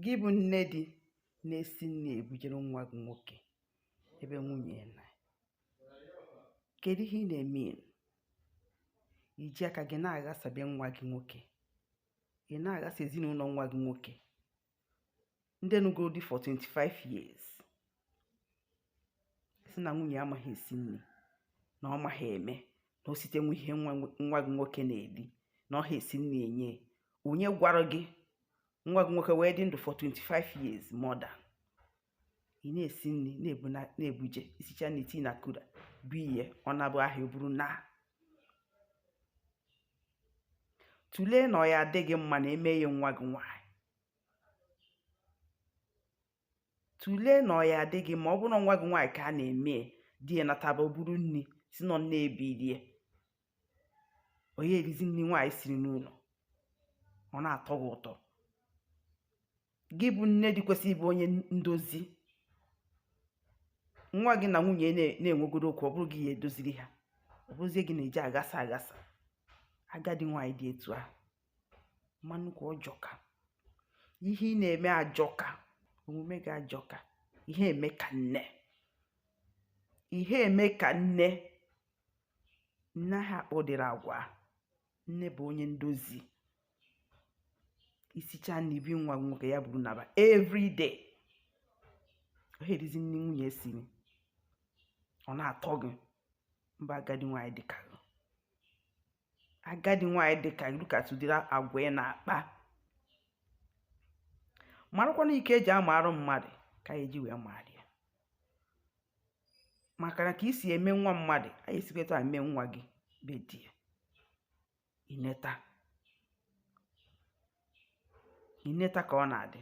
Gị bụ nne di na-esi nri ebujere nwa gị nwoke ebe nwunye ya nọ kedu ihe ị na-eme i ji aka gị na-aghasa be nwa gị nwoke ị na-aghasa ezinụlọ nwa gị nwoke ndị nụgoro di for 25 years sị na nwunye ya amaghị esi nri na ọ maghị eme na o site nwe ihe nwa gị nwoke na-eri na ọ ha esi nri enye onye gwara gị nwa gị nwoke wee dị ndụ for 25 years more than ị na-esi nri na-ebuje i sicha nri i tii na cooler bụ ihe ọ na-abụ ahịa o buru naa tụlee na ọ ya-adị gị mma a na-eme ya nwa gị nwaanyị tụlee na ọ ya-adị gị mma ọ bụrụ na nwa gị nwaanyị ka a na-eme di ya nataba buru nri si nọ na-ebilie onye erizi nri nwaanyị siri n'ụlọ ọ na-atọ gị ụtọ gị bụ nne di kwesịrị ịbụ onye ndozi nwa gị na nwunye ya na-enwegodu okwu ọ bụrụ gị ya-edoziri ha ọ bụrụzie gị na-eje aghasa aghasa agadi nwaanyị dị etu ahụ mbanụkwa ọ jọka ihe ị na-eme ajọka omume gị ajọka ị ha eme ka nne ị ha eme ka nne nne anaghị akpa ụdịrị agwa a nne bụ onye ndozi i sicha nri i bunye nwa nwoke ya buru naba everyday ọ ha erizi nri nwunye siri ọ na-atọ gị mba agadi nwaanyị dịka agadi nwaanyị dị ka gị lekwatụ ụdịrị agwa ị na-akpa marakwa na iko e ji amaara mmadụ ka a ya-eji wee maara ya maka na ka i si eme nwa mmadụ a ya-esikwa etu a eme nwa gị be di ya i neta i neta ka ọ na-adị